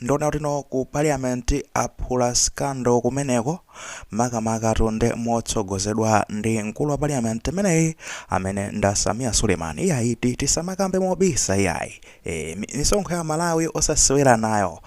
Ndiona kuti no ku parliament aphula scandal kumeneko makamakatu nde motsogozedwa ndi mkulu wa parliament imeneyi amene nda Sameer Suleiman iyayi ti tisamakambe mobisa iyayi ee misonkho ya Amalawi osasewera nayo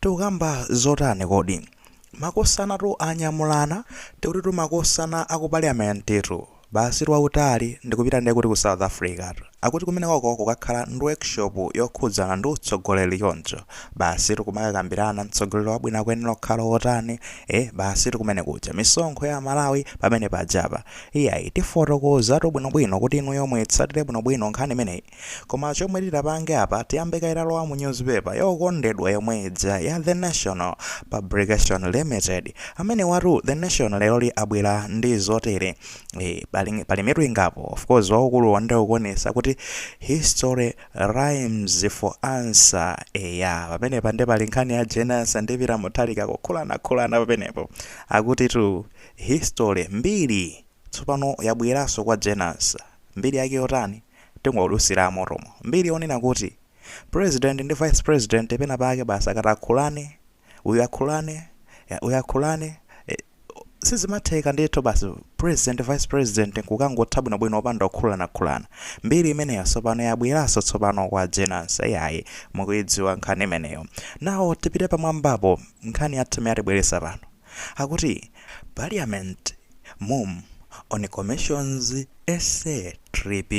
tikukamba zotani kodi makosana tu anyamulana tikutitu makosana aku parliament tu Basi wautali ndikupita nde kuti ku south africatu akuti kumenekoko kukakhala ndi workshop yokhudzana ndi utsogoleri choncho basitu kumakakambirana mtsogoleri wabwino akuyenera kukhala wotani eeh basitu kumene kuja misonkho ya amalawi pamene pajapa iyayi tifotokozatu bwinobwino kuti inuyo muitsatire bwinobwino nkhani imeneyi Koma chomwe titapange apa tiyambe kaye talowa mu newspaper yokondedwa yomwe ija ya The National Publication Limited. Amene watu The Nation leroli abwera ndi zotere. E, pali, pali mitu ingapo. Of course waukuluwo nde ukuonesa kuti history rhymes for Ansah. E, ya pamenepa nde pali nkhani ya Jane Ansah ndi Peter Mutharika kukhulanakhulana pamenepo. Akuti tu history mbiri tsopano yabweranso kwa Jane Ansah. Mbiri yake yotani? Tingodutsira motomo. Mbiri yonena kuti President ndi Vice President pena pake basi akati akhulane, uyu akhulane, ya, uyu akhulane, eh, sizimatheka ndithu basa President, Vice President nkukangwatha bwinobwino opanda kukhulanakhulana. Mbiri imeneyo tsopano yabweranso tsopano kwa Jane Ansah. Iyayi, mukuidziwa nkhani imeneyo. Now, tipite pamwambapo, nkhani yathu imene yatibweretsa pano. akuti parliament mum on commissions SA trip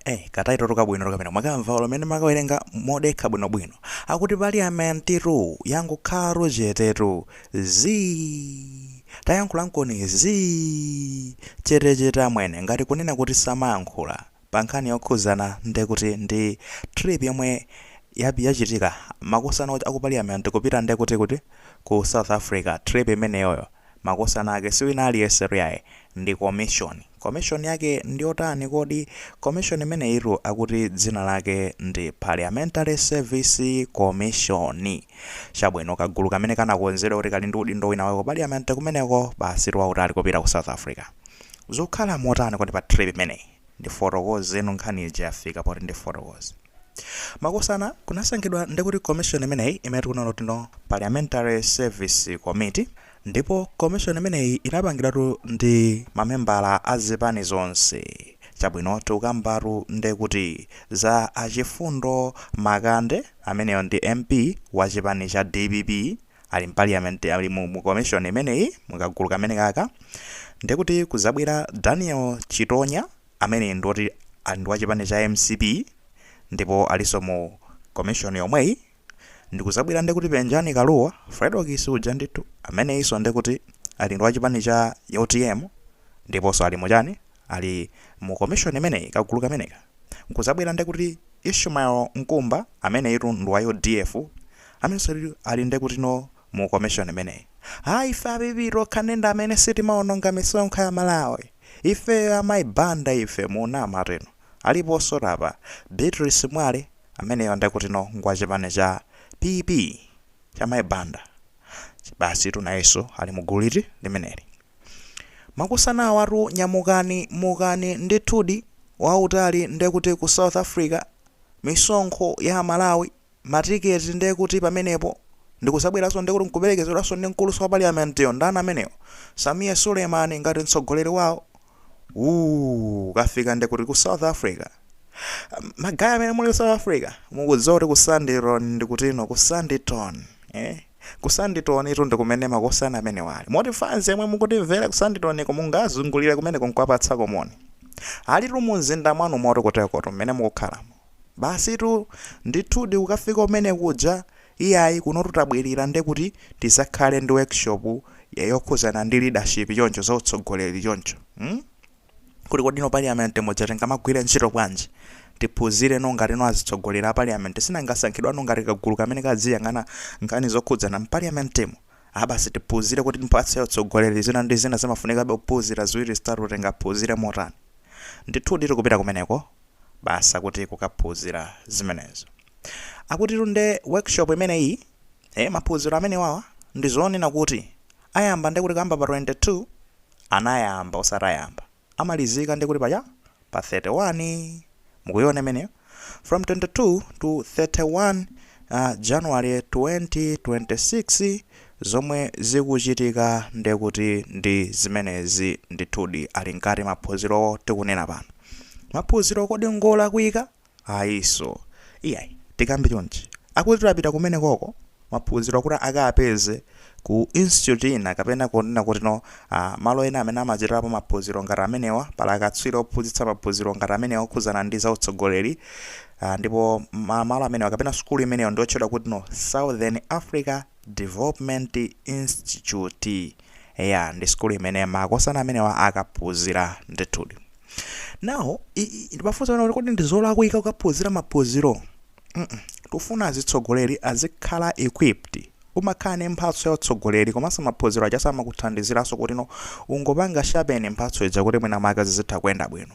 eh ka title tu kabwino tokapena mwakamva olo mene makawerenga modekha bwino bwino akuti parliament tu yangokhala chete tu zi tayankhula mkoni zi chete chete amwene ngati kunena kuti samayankhula pankhani yokhudzana ndekuti ndi trip yomwe yap yachitika makosana aku parliament kupita ndekuti kuti ku south africa trip imeneyoyo makosana ake siwina aliyese iyayi ndi commission commission yake ndiyotani kodi commission imeneyitu akuti dzina lake ndi parliamentary service commission chabwino kagulu kamene kanakonzedwa kuti kali ndi udindo wina wake ku parliament kumeneko basitu wautali kupita ku south africa Zikukhala motani kodi pa trip imeneyi? Ndifotokozeno nkhani ija yafika poti ndifotokoze. Makosana kunasankhidwa ndikuti commission imeneyi imene tikuona kuti no Parliamentary Service Committee ndipo commission imeneyi inapangidwatu ndi mamembala a zipani zonse. Chabwino tikukambatu ndekuti za a Chifundo Makande ameneyo ndi MP wa chipani cha dpp. ali mpaliyamenti, ali mu, mu komishoni imeneyi, mu kagulu kameneka ka, ndiye kuti kuzabwera Daniel Chitonya amene ndi oti ali ndi wa chipani cha mcp ndipo alinso mu komishoni yomweyi, ndi kuzabwera ndiye kuti Penjani Kalua, Fredokiss uja ndithu, ameneyinso ndiye kuti ali ndi wa chipani cha utm ndiponso ali mu chani, ali mu commission imeneyi kagulu kameneka nkuzabwera ndekuti ishmael nkumba ameneyitu ndi wa udf amenenso ali- ali ndekutino mu commission imeneyi a ife a pp tokha ndi amene sitimaononga misonkho ya malawi ifeyo a mayi banda ife munama tino aliponso tapa beatrice mwale ameneyo ndekutino ngwa chipani cha pp cha mayi banda basi tu nayeso ali mu gulu liti limeneli Makosana awatu nyamu kanyamu kani ndithudi wa utali ndekuti ku South Africa misonkho ya amalawi matiketi ndekuti pamenepo ndikuzabweraso ndekuti nkupelekezedwaso ndi nkuluso wa parliament yo ndani ameneyo Sameer Suleiman ngati mtsogoleri wawo ukafika ndekuti ku South Africa magaya amene muli ku south africa mukudziwa kuti ku sandton ndekutino ku sandton eh? ku sandton itu ndikumene makosana amenewa ali moti fans yemwe mukutimvera ku sandton ko mungazungulire kumeneko nkuwapatsako moni ali tu mumzinda mwanu moti kutekoto mmene mukukhalamo basi tu ndithudi ukafika kumene kuja iyayi kuno tutabwerera nde kuti tizakhale ndi workshop yokhuzana ndi leadership choncho za utsogoleri choncho hmm? kuti kodi no parliament muja tingamagwire ntchito bwanji tiphunzire no ngati no azitsogoleri a parliament sinangasankhidwa no ngati kagulu kamene kadziyang'ana nkhani zokhudzana mu parliament mu abasi tiphunzire kuti mpa za utsogoleri zina ndi zina zimafunikabe kuphunzira ziwiri zitatu tingaphunzire motani ndithudi tikupita kumeneko basa kuti kukaphunzira zimenezo akutitu nde workshop imeneyi eh maphunziro amene wawa ndi zonena kuti ayamba ndekuti kaamba pa 22 anayamba osati ayamba amalizika ndekuti pacha pa 31 mukuiona imeneyo from 22 to 31 uh, January 2026 zomwe zikuchitika ndekuti ndi zimenezi ndithudi ali mkati maphunzirowo tikunena pano maphunziro kodi ngolakwika Ayiso. Iyayi. Tikambe chonchi. Akutitu apita kumenekoko maphunziro kuti akaapeze ku institute ina kapena kunena kuti no uh, malo ena amene amachitirapo maphunziro ngati amenewa pali akatswiri ophunzitsa maphunziro ngati amenewa okhudzana ndi za utsogoleri uh, ndipo ma, malo amenewa kapena sukulu imeneyo ndiotchedwa kuti no Southern Africa Development Institute eya ndi sukulu imene makosana amenewa akaphunzira ndithudi nawo ndipafunsa pano kuti kodi ndi zolakwika kukaphunzira maphunziro Mm, mm. tufuna azitsogoleri azikhala equipped umakhala ndi mphatso ya utsogoleri komanso maphunziro aja amakuthandiziranso kuti no ungopanga sharpen mphatso ija kuti mwina maka zizitha kuyenda bwino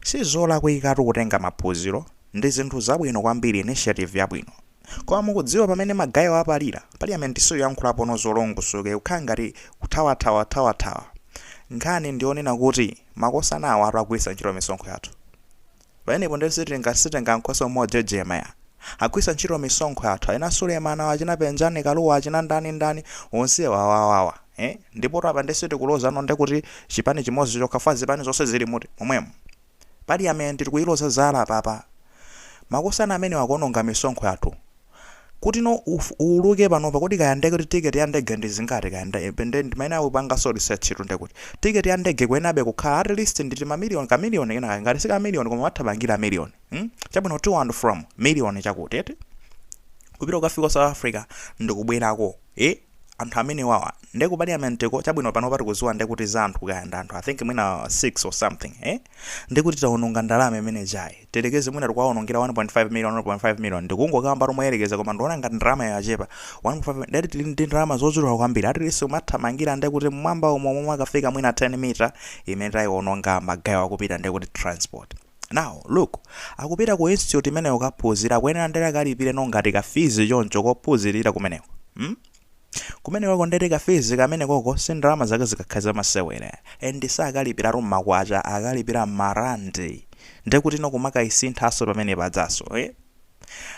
Sizolakwikatu kutenga maphunziro ndizinthu zabwino kwambiri initiative yabwino koma mukudziwa pamene magaye wapalira parliament sikuyankhulapono zolongosoka kukhala ngati kuthawathawathawa nkhani ndiyonena kuti makosana awatu agwiritsa ntchito misonkho yathu pamenepo ndiye sitinga sitenga nkhoswe mojejema eya agwiritsa ntchito misonkho yathu achina Suleman achina Penjani Kalua achina ndani ndani onsewa awawawa He ndipotu apa nde sitikuloza no nde kuti chipani chimozi chokha chifukwa zipani zonse zilimutu momwemu parliament tikuiloza zala apapa makosana amenewa akuononga misonkho yathu kuti no uf uuluke panopa kodi kaya nde kuti ticket ya ndege ndi zingati kaya nde nde ndimayenera kupanganso research tu nde kuti ticket ya ndege ikuyenabe kukhala at least ndi tima million ka million kena kake ngati si ka million koma imathamangira million hm chabwino to and from million chakuti eti kupita kukafika ku south africa ndikubwerako ee anthu amenewawa nde ku parliamentko chabwino panopa tikuziwa nde kuti za anthu kaya ndi anthu i think mwina 6 or something eh nde kuti tawononga ndalama imene tayerekeze mwina tikuwawonongera 1.5 million 1.5 million ndikungokamba tu moyerekeza koma ndiona ngati ndalama yachepa 1.5 ndati tili ndi ndalama zochuluka kwambiri at least imathamangira nde kuti mmwamba umo momwe akafika mwina 10 mita imene tayiwononga magayo akupita nde kuti transport now look akupita ku institute imeneyo kaphunzira akuyenera ndere akalipire no ngati ka fees choncho kophunzirira kumeneko hmm? kumeneko ndere ka fees kamenekoko si ndalama zake zingakhale zamasewera and sakalipiratu mmakwacha akalipira marandi ndekuti no kumakayisinthanso pamene pajanso eh?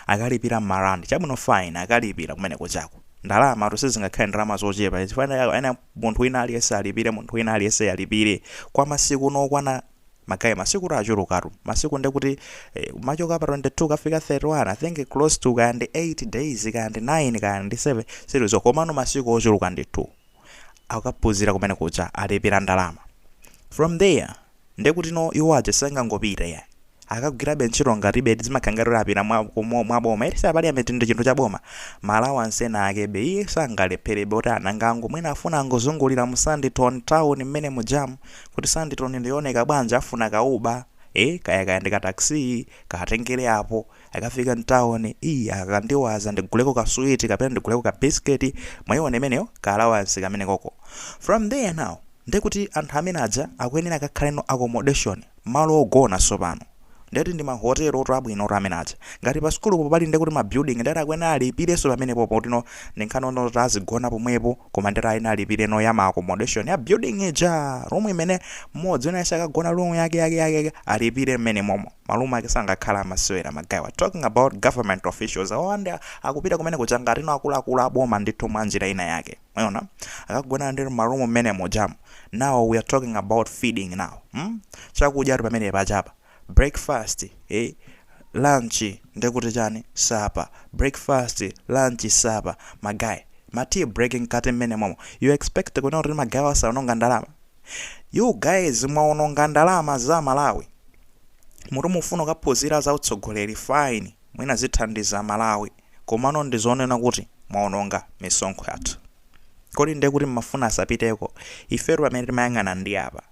akalipira marandi chabwino fine akalipira kumeneko chako ndalamatu sizingakhale ndalama zochepa chifukwa chani munthu wina aliyense alipire munthu wina aliyense alipire kwa masiku nokwana Magaye masikutu achulukatu. Masiku nde kuti eh, kumachoka pa 22 kukafika 31 I think close to kaya ndi 8 days kaya ndi 9 kaya ndi 7 silizo komano masiku ochuluka ndithu akaphunzira kumene kuja alipira ndalama from there nde kuti no iwo aja sangangopita ya akagwirabe ntchito ngati basi zimakhala ngati apita mwa, mwa, mwa boma eti za parliament ndi chinthu cha boma ma allowance ena akebe iye sangalepherebe kuti anangango mwina afuna angozungulira mu Sandton town mmene mujamu kuti Sandton ndiyoneka bwanji afuna ka uber ee kaya kaya ndi ka taxi ka atengere apo akafika mtown ii akandiwaza ndiguleko ka sweet kapena ndiguleko ka biscuit mwaiona imeneyo ka allowance kamenekoko from there now ndekuti anthu amene aja akuyenera akakhale no accommodation malo ogona tsopano ndeti ndi ma hotel otu abwino otu amene aja ngati pa sukulu po pali ndekuti ma building ndeti akuyenera alipireso pamenepopo kuti no ndi nkhani yonena kuti azigona pomwepo koma ndeti ayenera alipire no ya ma accommodation ya building ija room imene mmodzi wina yese akagona room yake yake yake yake alipire mmenemomo ma room ake sangakhala amasewera magaye we are talking about government officials awo anthu akupita kumene kuja ngati no akuluakulu aboma ndithu mwa njira ina yake mwaona akagona ndi ma room mmene mujamu now we are talking about feeding now hmm? chakudya ati pamene pajapa breakfast eh? lunch ndekuti chani supper breakfast lunch supper magaye ma tea break mkati mmenemomo you expect kunena kuti magayewa saononga ndalama you guys mwaononga ndalama za malawi muti mufuna kukaphunzira za utsogoleri fine mwina zithandiza malawi Komano ndi zoona kuti mwaononga misonkho yathu. Kodi ndiye kuti mmafuna asapiteko? Ifetu pamene timayang'ana ndi apa.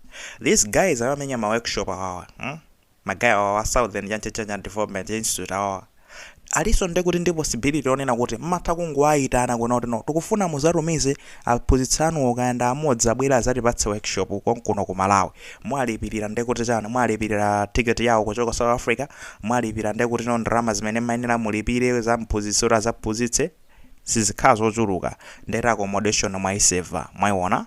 These guys amamenya ma workshop awawa, mm? Magaye awawa a Southern chanchi chanchi and Development Institute awawa. Alinso ndiye kuti ndi possibility yonena kuti mmatha kungowaitana kunena kuti no, tikufuna muzatumize aphunzitsi anuwo kaya ndi amodzi abwere azatipatse workshop konkuno ku Malawi. Mwalipirira ndekuti chani? Mwalipirira ticket yawo kuchoka South Africa? Mwalipira ndekuti no ndalama zimene mmayenera mulipire za mphunzitsi kuti adzaphunzitse sizikhala zochuluka ndeti accommodation mwayiseva. Mwayiwona?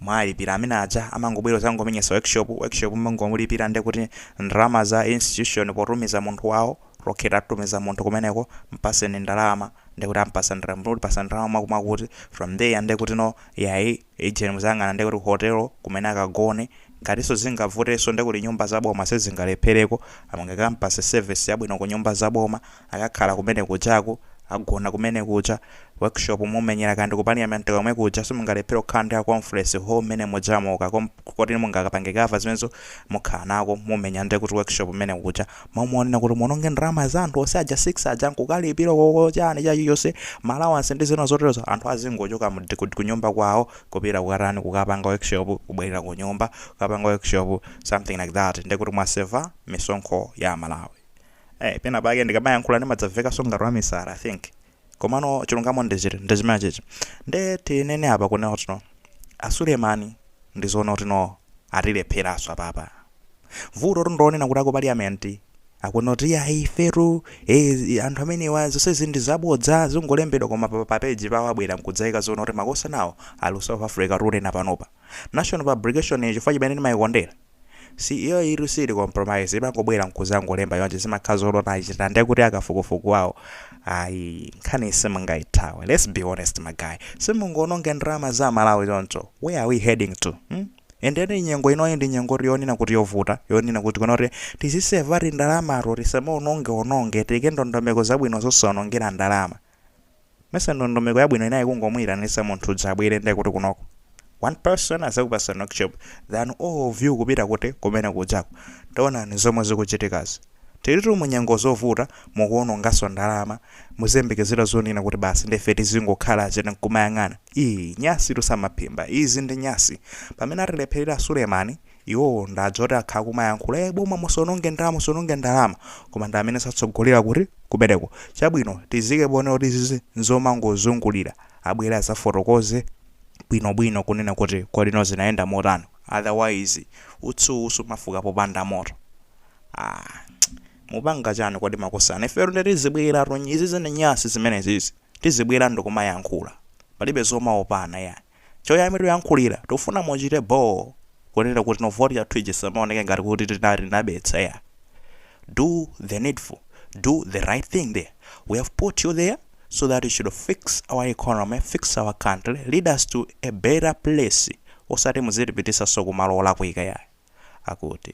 Mwalipira amene aja amangobwera kudzangomenyetsa workshop, workshop mmangomulipira ndekuti ndalama za institution potumiza munthu wawo okay titumiza munthu kumeneko mpaseni ndalama ndekuti ampasa ndalama mutipasa ndalama mwakuti mwakuti from there ndekuti no yayi. Agent muzayang'ana ndekuti ku hotel kumene akagone, ngatiso zingavuteso ndekuti nyumba za boma sizingalephereko, amungakampase service yabwino kunyumba za boma, akakhala kumene kujaku, agona kumene kuja, workshop mumenyera kaya ndiku parliament komwe kuja simungalephere kukhala ndi ka conference hall mmene mujamo ka koti mungakapange cover zimenezo mukhala nako mumenya ndekuti workshop mmene kuja. Mwaona kunena kuti muononge ndalama za anthu onse aja 6 aja nkukalipira koko chani chilichonse ma allowance ndi zina zoterozo anthu azingochoka mu ku kunyumba kwawo kupita kukatani kukapanga workshop kubwerera kunyumba kukapanga workshop something like that ndekuti mwaseva misonkho ya amalawi eh pena pake ndikamayankhula ndimadzamvekanso ngati wamisala i think Komano chilungamo ndi chiti? Ndi chimenechichi. Nde tinene apa kunena kuti no a Suleman ndi zoona kuti no atilepheranso apapa. Vutotu ndi lonena kuti a ku parliament akunena kuti iyayi ifetu eh, zi- anthu amenewa zonsezi ndi zabodza zingolembedwa koma pa, pa page pawo abwera nkudzaika zoona kuti makosanawo ali ku South Africa tikunena panopa. National publication chifukwa chimene ndimayikondera. Si iyo itu siili compromise imangobwera nkuzangolemba chonchi zimakhala zolota achita nde kuti akafukufuku wawo ayi nkhani simungaithawe let's be honest ma guy simungoononge ndalama za amalawi choncho where are we heading to hmm? and then nyengo inoyi ndi nyengotu yonena kuti yovuta yonena kuti kunoko tizisevatu ndalamatu tisamaonongeononge tiyike ndondomeko zabwino zosaonongera ndalama mesa ndondomeko yabwino inali kungomuitanisa munthu uja abwere nde kuti kunoko one person azakupasa workshop than all of you kupita kuti kumene kujako taonani zomwe zikuchitikazi tilitu munyengo zovuta mukuonongaso ndalama muziyembekezera zonena kuti basi ndefe tizingokhala chete nkumayang'ana ii nyasitu samaphimba izi ndi nyasi pamene atilepherera a Sulemani Iwowo ndi aja oti akhala kumayankhula ee boma musononge ndalama musononge ndalama koma ndi amenenso atsogolera kuti kumeneko. Chabwino tiziike ponena kuti izizi nzomangozungulira. Abwere azafotokoze bwinobwino kunena kuti kodi zinayenda motani. Otherwise utsi sumafuka popanda moto. Aaa mupanga chani kodi makosana. Ifetu ndiye tizibweratu izizi ndi nyasi zimenezizi. Tizibwera ndikumayankhula. Palibe zomaopana ayi. Chomwe tuyankhulira, tufuna muchite bho kunena kuti nayo vote yathu ija isamaoneke ngati kuti tinali tinabetsa ayi. Do the needful, do the right thing there. We have put you there so that you should fix our economy, fix our country, lead us to a better place osati muzitipitisanso kumalo olakwika ayi. Akuti.